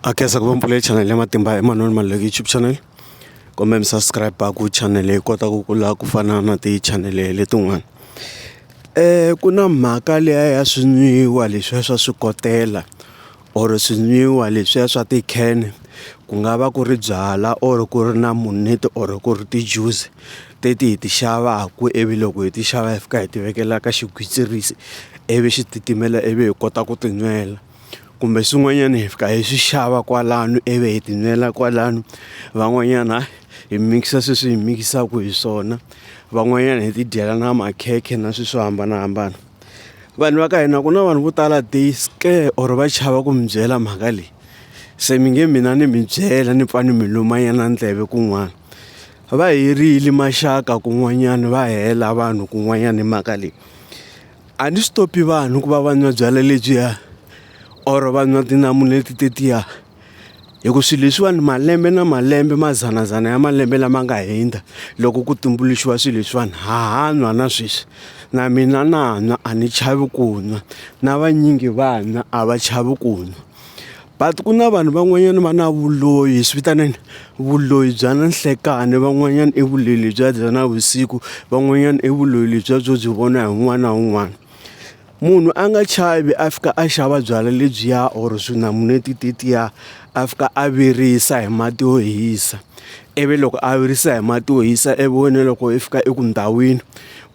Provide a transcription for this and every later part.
a khensa ku va mpfula channel ya matimba hi manoni maluleki youtube channel kumbe mi subscribe ku channel yi kota ku kula ku fana na ti-channel letin'wana um ku na mhaka liya ya swinwiwa leswiya swa swikotela or swinwiwa leswiya swa ti-can ku nga va ku ri byala or ku ri na muneti or ku ri ti-juice teti hi ti xavaku ivi loko hi ti xava hi fika hi ti vekela ka xigwitsirisi ivi xi titimela ivi hi kota ku tinwela. kumbe swin'wanyana hi fika hi swi xava kwalano ivi hi tinwela kwalano van'wanyana hi mikisa sweswi hi mikisaka hi swona van'wanyana hi ti dyela na makhekhe na swilo swo hambanahambana vanhu va ka hina ku na vanhu vo tala they scare or va chava ku mi byela mhaka leyi se mi nge mina ni mi byela ni pfa ni mi lumanyana ndleve kun'wana va herile maxaka kun'wanyana va hela vanhu kun'wanyana hi mhaka leyi A ni stop vanhu ku va va nwa byalwa lebyiya or va nwa tinamuneti tetiya hi ku swilo leswiwani malembe na malembe mazanazana ya malembe lama nga hundza loko ku tumbuluxiwa swilo leswiwani ha ha nwa na sweswi na mina na nwa a ni chavi ku nwa na vanyingi va nwa a va chavi ku nwa. But ku na vanhu van'wanyana va na vuloyi swi vitaneni vuloyi bya na nhlekani van'wanyana i vuloyi lebyiya bya na vusiku van'wanyana i vuloyi lebyiya byo byi vona hi un'wana na un'wana munhu a nga chavi a fika a xava byalwa lebyiya or swinamuneti tetiya a fika a virisa hi mati yo hisa ivi loko a virisa hi mati yo hisa ivi wena loko i fika eku ndhawini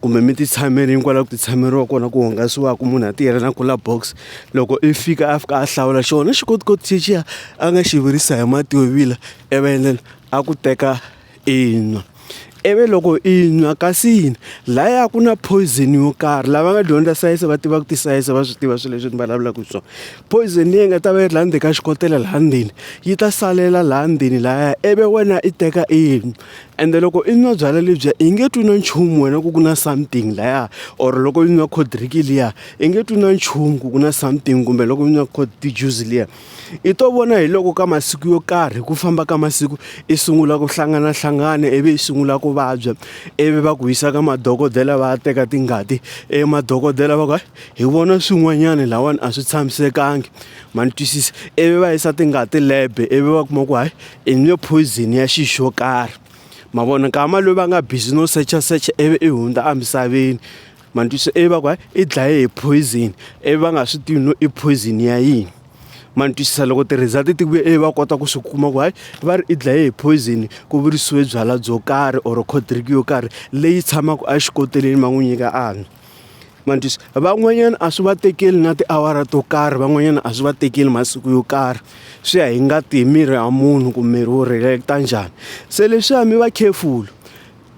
kumbe mi ti tshamele hikwalaho ka ku ti tshameriwa kona ku hungasiwaka munhu a tiyela na cooler box loko i fika a fika a hlawula xona xi koti koti xexi a nga xi virisa hi mati yo vila i vi endlela a ku teka i nwa ivi loko i nwa kasi yini laya ku na poison yo karhi lava nga dyondza sayense va tiva ku ti sayense va swi tiva swilo leswi ni vulavulaka hi swona poison leyi nga ta va yi ri laha ndzeni ka xikotela laha ndzeni yi ta salela laha ndzeni lahaya ivi wena i teka i nwa. Ende loko i nwa byalwa lebyiya i nge twi na nchumu wena ku ku na something laya or loko i nwa cold drink liya i nge twi na nchumu ku ku na something kumbe loko i nwa cold juice liya i to vona hi loko ka masiku yo karhi ku famba ka masiku i sungula ku hlanganahlangana ivi i sungula ku vabya ivi va ku yisa ka madokodela va ya teka tingati e madokodela va ku hayi hi vona swin'wanyana lahawani a swi tshamisekanga ma ni twisisa ivi va yisa tingati lab ivi va kuma ku hayi i nge poison ya xi xo karhi ma vona nkama loyi va nga busy no secha secha ivi i hundza emisaveni ma ni twisa ivi va ku hayi i dlaye hi poison ivi va nga swi tivi no i poison ya yini ma ni twisisa loko ti-result ti vuye ivi va kota ku swi kuma ku hayi va ri i dlaye hi poison ku virisiwe byalwa byo karhi or cold drink yo karhi leyi tshamaka exikoteleni va n'wi nyika a nwa. ma ni twisa van'wanyana a swi va tekeli na tiawara to karhi van'wanyana a swi va tekeli masiku yo karhi swi ya hi ngati hi miri ya munhu ku miri wu react-a njhani se leswiya mi va careful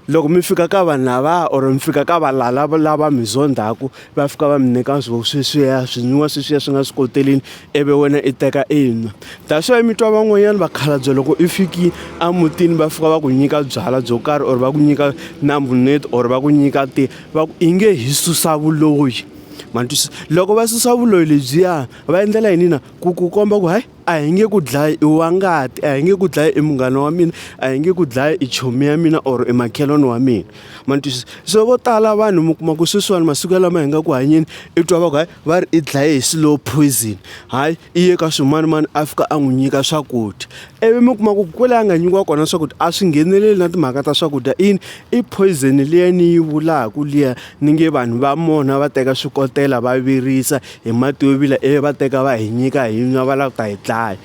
loko mi fika ka vanhu lavaya or mi fika ka valala lava mi zondhaku va fika va mi nyika swo sweswiya swinwiwa sweswiya swi nga swi koteleni ivi wena i teka i nwa that's why mi twa van'wanyana vakhalabye loko i fiki emutini va fika va ku nyika byalwa byo karhi or va ku nyika na mbuneto or va ku nyika ti va ku i nge hi susa vuloyi ma ni twisisa loko va susa vuloyi lebyiya va endlela yini na ku ku komba ku hayi a hi nge ku dlayi i wa ngati a hi nge ku dlayi i munghana wa mina a hi nge ku dlayi i chomi ya mina or i makhelwani wa mina ma ni twisisa so vo tala vanhu mi kuma ku sweswiwani masiku ya lama hi nga ku hanyeni i twa va ku hayi. va ri i dlaye hi slow poison hayi i ye ka swimanimani a fika a n'wi nyika swakudya ivi mi kuma ku kwele a nga nyikiwa kona swakudya a swi ngheneleli na timhaka ta swakudya ini i poison liya ni yi vulaka liya ni nge vanhu va mona va teka swikotela va virisa hi mati yo vila ivi va teka va hi nyika hi nwa va lava ku ta hi dlaya.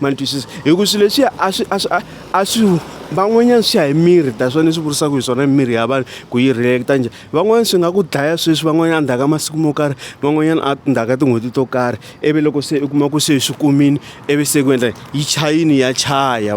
ma ni twisisa hi ku swilo leswiya a swi a swi a a swi van'wanyana swi ya hi miri that's why ni swi vurisaka hi swona miri ya vanhu ku yi react njhani van'wanyana swi nga ku dlaya sweswi van'wanyana ndzhaku ka masiku mo karhi van'wanyana a ndzhaku ka tin'hweti to karhi ivi loko se u kuma ku se swi kumile ivi se ku endla yi chayile ya chaya.